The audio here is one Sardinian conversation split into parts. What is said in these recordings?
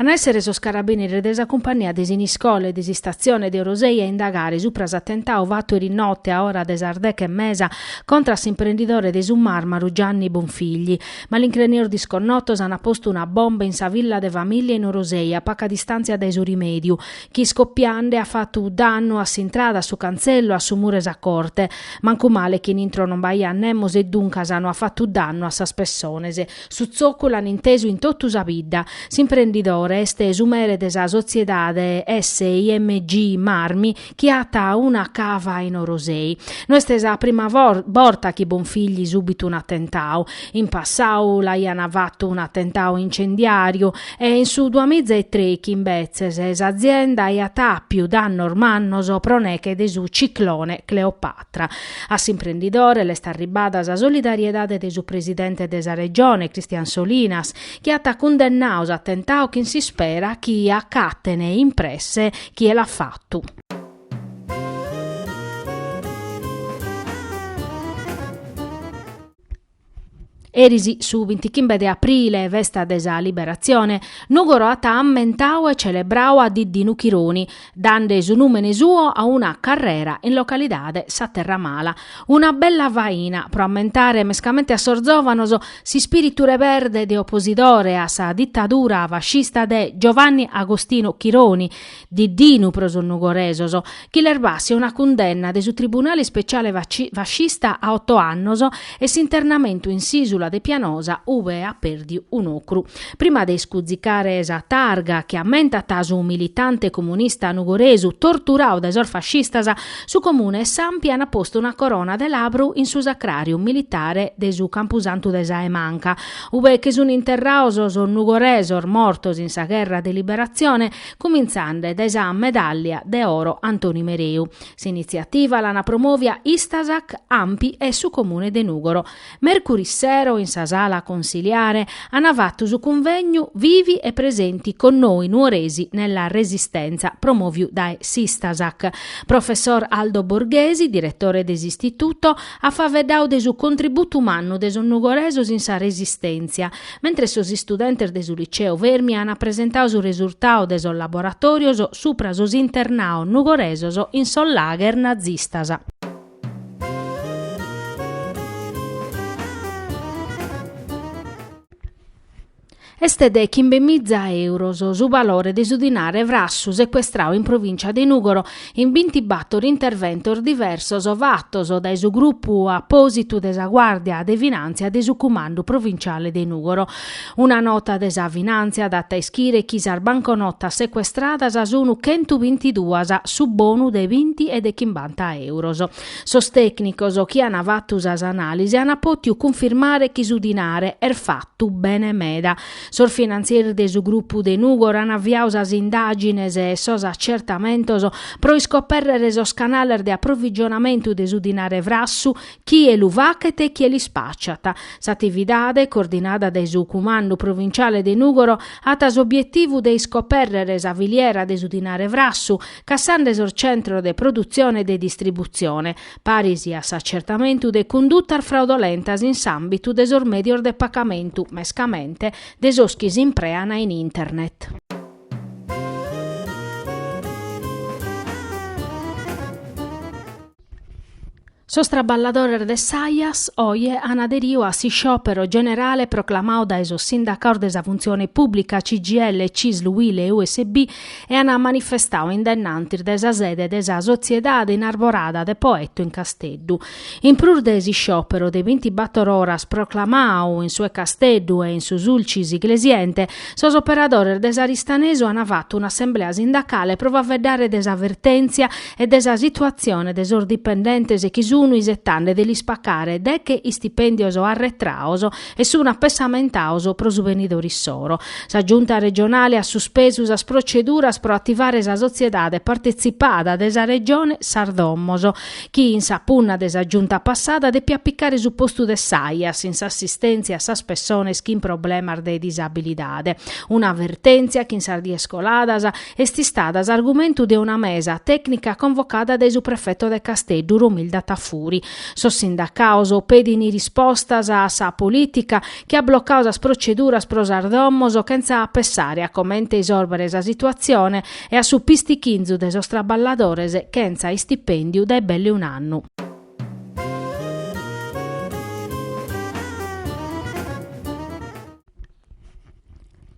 Ant èssere sos carabineres de sa cumpania de Siniscola e de s'Istatzione de Orosei a indagare supra s'atentau fatu erinote a ora de sas deche e mesa contra a s'imprendidore de su màrmaru Gianni Bonfigli. Malincrenios disconnotos ant postu una bomba in sa villa de famìllia in Orosei, a paca distàntzia dae su Rimèdiu. chi iscopiande at fatu dannu a s'intrada, a su cantzellu, a su muru 'e sa corte. Mancu male chi in intro non b'aiat nemos e duncas no at fatu dannu a sas pessones. Su tzoccu l'an intesu in totu sa bidda. S'imprendidore est su mere de sa sotziedade SIMG Marmi chi at una cava in Orosei. No est sa prima borta chi Bonfigli subit un'atentau. In passau l'aiant fatu un'atentau incendiàriu e in su duamiza e trechi, imbetzes, s'azienda aiat àpiu dannos mannos pro neche de su ciclone Cleopatra. A s'imprendidore l'est arribbada sa solidariedade de su presidente de sa Regione, Christian Solinas, chi at cundennau s'atentau chin s'ispera chi acaten impresse chie l'at fatu. Eris, su bintichimbe de aprile, festa de sa Liberatzione, Nùgoro at ammentau e celebrau a Diddinu Chironi, dande su nùmene suo a una carrera in localidade Sa Terramala. Una bella faina pro ammentare mescamente a sos zòvanos s'ispìritu reberde de oposidore a sa ditadura fascista de Giovanni Agostino Chironi, Diddinu pro sos nugoresos, chi l'est bàssia una cundenna de su Tribunale Ispeciale Fascista a otto annos e s'internamentu in s'ìsula de Pianosa ube at pèrdiu un'ocru. Prima de iscuzicare sa targa chi ammentat a su militante comunista nugoresu torturau dae sos fascistas, su Comune e s'Anpi ant postu una corona de labru in su sacràriu militare de su campusantu de sa 'e Manca, ube che sunt interraos sos nugoresos mortos in sa Gherra de Liberatzione, cumintzande dae sa medàllia de oro Antoni Mereu. S'initziativa l'ant promòvia Istasac, Anpi e su Comune de Nùgoro. Mèrcuris sero in sa sala consiliare ant fatu su cunvegnu Vivi e presenti con noi nuoresi nella Resistenza promòviu dae s'Istasac. Professor Aldo Borghesi, diretore de s'Istituto, at faveddau de su contributu mannu de sos nugoresos in sa Resistèntzia Mentres sos istudentes de su Liceu Fermi ant presentau su resurtau de sos laboratòrios supra sos internaos nugoresos in sos lager nazistas. Est de chimbe miza euros su valore de su dinare frassu secuestrau in provìncia de Nùgoro In binti bàttor interventos diversos fatos dae su grupu apòsitu de sa Guàrdia de Finàntzia de su Cumandu Provinciale de Nùgoro. Una nota de sa Finàntzia dat a ischire chi sas banconotas secuestradas sunu chentu bintiduas, su bonu de binti e de chimbanta euros. Sos tècnicos chi an fatu sas anàlisi an pòtiu cunfirmare chi su dinare est fatu bene meda. Sos finantzieris de su grupu de Nugoro an aviadu sas indàgines e sos atzertamentos pro iscopèrrere sos canales de aprovigionamentu de su dinare frassu, chie lu faghet e chie l'ispàciat. S'atividade, coordinada dae su Cumandu Provinciale de Nugoro, at s'obietivu de iscopèrrere sa filiera de su dinare frassu, cassende sos centros de produtzione e de distributzione, paris a s'acertamentu de cundutas fraudolentas in s'àmbitu de sos mèdios de pagamentu, mescamente de sos chi s'imprean in Internet. Sos traballadores de s'Aias oje an aderíu a s'isciòpero generale proclamadu dae sos sindacados de sa Funtzione Pùblica, CGIL, Cisl, Uil e Usb, e an manifestau in dennantis de sa sede de sa Sotziedade in Arborada de Poettu in Casteddu. In prus de s'isciòperu de bintibator oras proclamau in su 'e Casteddu e in su Sulcis Iglesiente, sos operadores de s'Aristanesu an fatu un'assemblea sindacale pro faeddare de sa vertèntzia e de sa situatzione de sos dipendentes chi sun isetende de lis pacare deghe istipèndios arretraos e sun apessamentados pro su benidore issoro. Sa Giunta regionale at suspesu sas proceduras pro ativare sa sotziedade partetzipada de sa Regione Sas Domos, chi in sa punna de sa Giunta passada depiat picare su postu de s'Aias in s'assistèntzia a sas pessones chin problemas de disabilidade, una vertèntzia chi in sas dies coladas est istada s'argumentu de una mesa tècnica convocada dae su prefeto de Casteddu, Romilda Tafuri. Sos sindacaos pedin rispostas a sa polìtica chi at blocadu sas proceduras pro Sas Domos chentza a pessare a comente isòrbere sa situatzione e a su pistichinzu de sos traballadores chentza istipèndiu dae belle un'annu.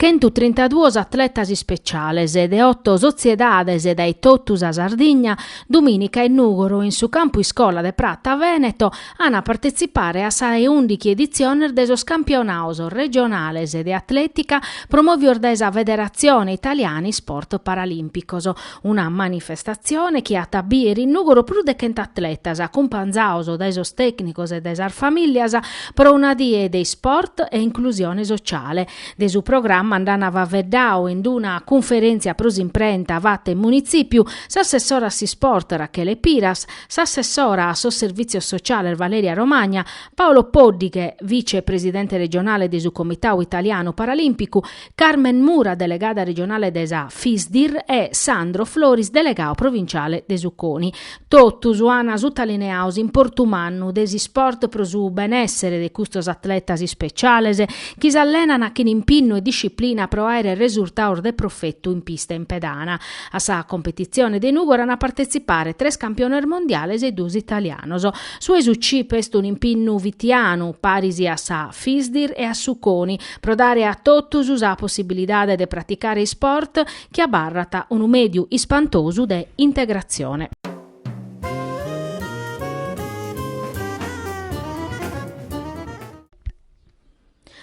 Chentutrintaduos atletas ispeciales de oto sotziedades dae totu sa Sardigna, dumìnica in Nùgoro in su campu iscola de Prata Vèneto, ant a partetzipare a sa 'e ùndighi editziones de sos campionados regionales de atlètica promovidos dae sa Federatzione Italiana Sport Paralìmpicos. Una manifestatzione chi at a bìere in Nùgoro prus de chentu atletas acumpanzados dae sos tècnicos e dae sas famìlias pro una die de isport e inclusione sociale. De su programma nd'an faveddadu in una cunferèntzia pro s'imprenta fata in munitzìpiu s'assessora a s'isport Rachele Piras, s'assessora a sos servìtzios sociales Valeria Romagna, Paolo Poddighe, vice presidente regionale de su Comitadu Italianu Paralìmpicu, Carmen Mura, delegada regionale de sa Fisdir e Sandro Floris, delegau provinciale de su Coni. Totus ana sutalineau s'importu mannu de s'isport pro su benèssere de custos atletas speciales chi s'allenana chin impinnu e disciplina pro àere resurtaus de profetu in pista e in pedana. A sa competitzione de Nùgoro an a partetzipare tres campiones mondiales e duos italianos. Su 'e su Cip est un'impinnu fitianu, paris a sa Fisdir e a su Coni, pro dare a totus sa possibilidade de praticare isport chi abarrat unu mèdiu ispantosu de integratzione.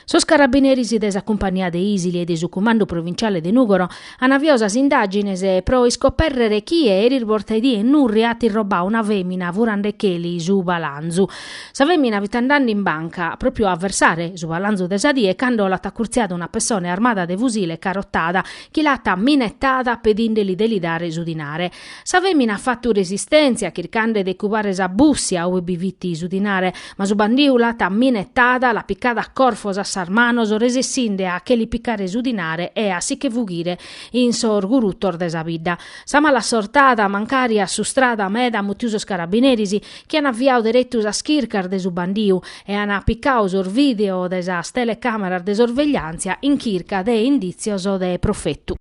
Sos carabineris de sa Cumpagnia de Isili e de su Cumandu Provinciale de Nùgoro An aviau sas indàgines pro iscopèrrere chie eris bortaedie in Nurri at irrobau una fèmina furandecheli su balanzu. Sa fèmina fit andende in banca, pròpiu a versare su balanzu de sa die, cando l'at acurtziada una pessone armada de fusile e carotada, chi l'at minetada pedindeli de li dare su dinare. Sa fèmina at fatu resistèntzia, chircande de cubare sa bùssia, ue bi fit su dinare, ma su bandiu l'at minetada, l'at picada a corfos a sas manos, resessinde a che li picare su dinare e a si che fughire in sos gurutos de sa bidda. Sa malassortada mancari assustrada meda at mutiu sos carabineris, chi an aviadu deretu sas chircas de su bandiu e an picadu sos video de sas telecàmeras de sorvegliàntzia in chirca de indìtzios de profetu.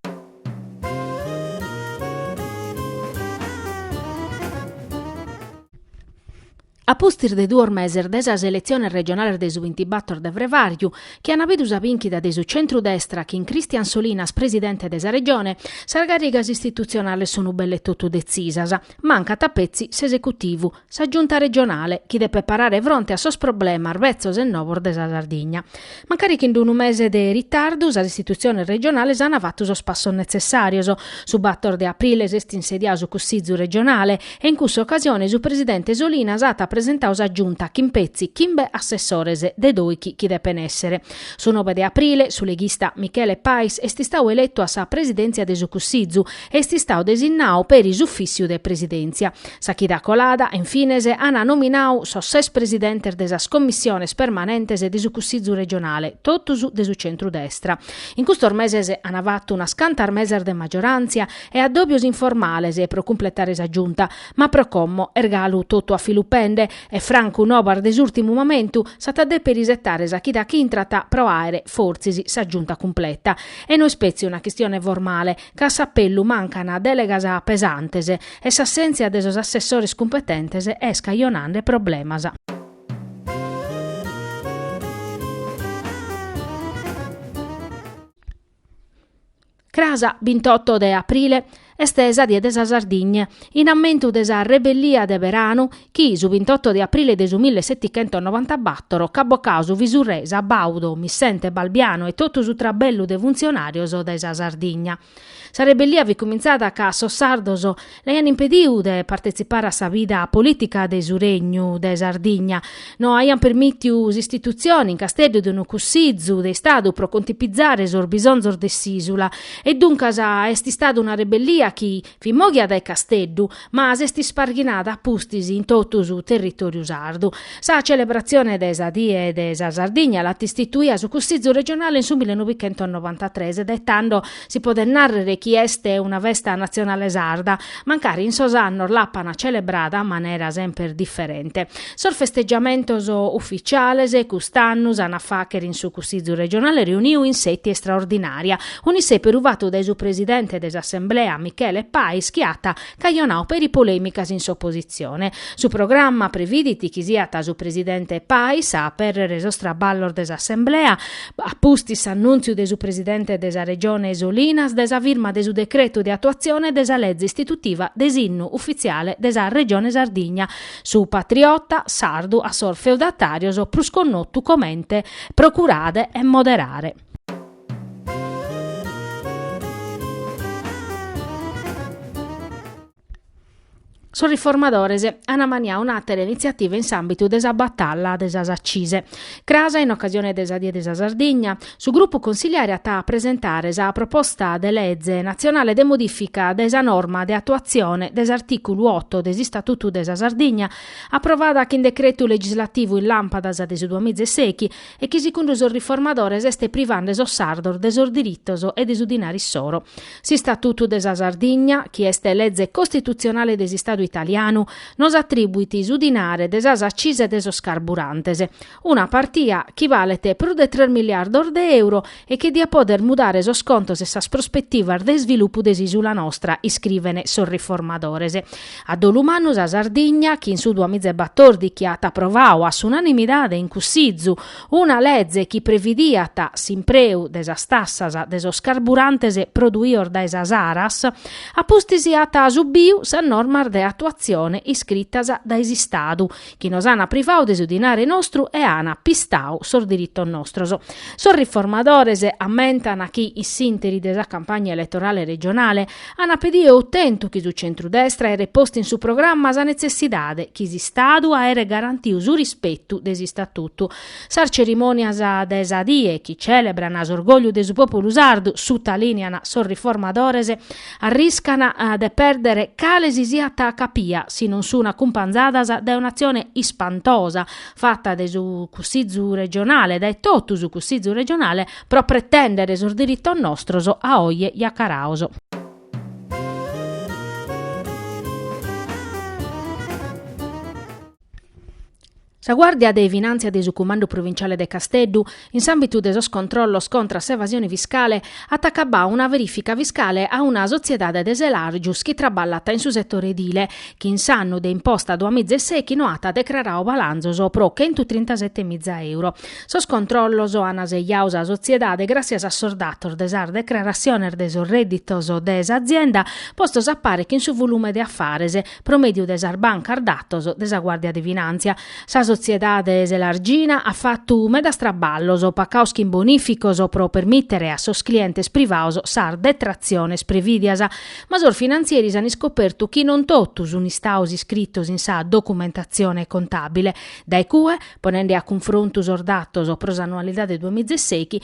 A pustis de duos meses de sas eletziones regionales de su bintibàtor de frevàriu, chi ant bidu sa bìnchida de su centru-destra chin Christian Solinas presidente de sa Regione, sas gàrrigas istitutzionales sunt belle totu detzisas. Mancat petzi s'esecutivu. sa Giunta regionale chi depet parare fronte a sos problemas betzos e novos de sa Sardigna. Mancari chin d'unu mese de ritardu, sas istitutziones regionales ant fatu sos passos netzessàrios. Su bator de aprile s'est insediadu su Cussizu regionale e in cussa ocasione su presidente Solinas at presentadu sa Giunta chin petzi chimbe assessores de doighi chi depen èssere. Su nove de aprile su leghista Michele Pais est istadu eletu a sa presidèntzia de su Cussizu est istau desinnau peri s'Ufìssiu de Presidèntzia. Sa chida colada, in fines, ana nominau sos ses Presidentes de sas Commissiones permanentes de su Cussizu regionale, totus de su centru-destra. In custos meses ana fatu unas cantas mesas de maggioràntzia e addòbios informales pro cumpletare sa Giunta, ma pro como est galu totu a filupende e francu nobas de s'ùrtimu momentu, s'at a dèpere isetare sa chida ch'intrat pro àere, fortzis, sa Giunta cumpleta. E no est petzi una chistione formale. ca a s'apellu mancan dèlegas pesantes e s'assèntzia de sos assessores cumpetentes est cajonande problemas. Cras, bintotto de aprile, est sa Die de sa Sardigna, in ammentu de sa rebellia de beranu, chi, su bintotto de aprile de su mille settichentos novantabattor, ch'at bocau su visurrè sabàudu Missente Balbiano e totu su trabellu de funtzionàrios dae sa Sardigna. Sa rebellia fit cumintzada ca sos sardos l'aian impediu de partetzipare a sa vida polìtica de su Regnu de Sardigna, no aian permìtiu s'istitutzione in Casteddu de unu Cussizu de Istadu pro contipizare sos bisonzos de s'ìsula e duncas est istada una rebellia chi, fit mòghia dae Casteddu, ma s'est isparghinada a pustis in totu su territòriu sardu. Sa celebratzione de sa Die de sa Sardigna l'at istituia su Cussizu regionale in su millenovichentosnovantatres, dae tando si podet nàrrere chi est una festa natzionale sarda, mancari in sos annos l'apana celebrada a manera semper diferente. Sos festeggiamentos ufficiales cust'annu s'an a fàchere in su Cussizu Regionale reuniu in sètia estraordinària, un'issèperu fatu dae su presidente de s'Assemblea Michele Pais chi at cajonau peri polèmicas in s'opositzione. Su programma previdit chi siat su presidente Pais a apèrrere sos traballos de s'Assemblea, a pustis s'annùntziu de su presidente de sa Regione Solinas de sa firma de su decretu de atuatzione de sa leze istitutiva de s'innu ufitziale de sa Regione Sardigna. Su patriota sardu a sos feudatàrios prus connotu comente Procurade 'e moderare. Sos riformadores an ammaniau un'àtera initziativa in s'àmbitu de sa batalla de sas accise. Cras in ocasione de sa Die de sa Sardigna, Su grupu consiliare at a presentare sa proposta de leze natzionale de modifica de sa norma de atuatzione de s'artìculu oto de s'Istatutu de sa Sardigna, aprovada chin decretu legislativu in làmpadas de su duamiza e sèighi e chi sicundu sos riformadores est privande sos sardos de sos diritos e de su dinari issoro. S'Istatutu de sa Sardigna, chi est leze costitutzionale de s'Istadu italianu, nos atribuit su dinare de sas accise de sos carburantes. Una partia chi balet prus de tres miliardos de euro e chi diat pòdere mudare sos contos e sas prospetivas de isvilupu de s'ìsula nostra, iscrivene sos riformadores. A dolu mannu sa Sardigna, chi in su duamiza e batordichi at aprovau a s'unanimidade in Cussizu una leze chi previdiat s'impreu de sas tassas de sos carburantes produios dae sa Saras, a pustis at subiu sas normas de atuatzione iscritas dae s'Istadu, chi nos ana privau de su dinare nostru e ana pistau sos diritos nostros. Sos riformadores ammentana chi in s'interi de sa campagna elettorale regionale ana pediu e ottentu chi su centrudestra aeret postu in su programma sa netzessidade chi s'Istadu aeret garantiu su rispetu de s'Istatutu. Sas cerimonias de sa die chi celebran s'orgogliu de su populu sardu, sutalinian sos riformadores, arriscan de pèrdere cale si siat capia, si non sun acumpanzadas dae un'atzione ispantosa fata dae su Cussizu regionale, dae totu su Cussizu regionale, pro pretèndere sos diritos nostros a oje jacaraos. Sa Guàrdia de Finàntzia de su Cumandu Provintziale de Casteddu, in s'àmbitu de sos controllos contra a s'evasione fiscale, at acabau una verìfica fiscale a una sotziedade de Selàrgius chi traballat in su setore edile, chi in s'annu de imposta duamiza e sèichi no at decrarau balanzos pro chentu trintasete miza euro. Sos controllos an sejau sa sotziedade gràtzias a sos datos de sas decraratziones de sos rèditos de s'azienda postos a pare chin su volume de afares, pro mèdiu de sas bancas datos de sa Guàrdia de Finàntzia. Sa sotziedade selargina at fatu medas traballos, pacaos chin bonìficos pro permìtere a sos clientes privaos sas detratziones prevìdias, ma sos finantzieris an iscopertu chi non totu sun istaos iscritos in sa documentatzione contàbile. Dae cue, ponende a cunfrontu sos datos pro s'annualidade duamiza e sèichi,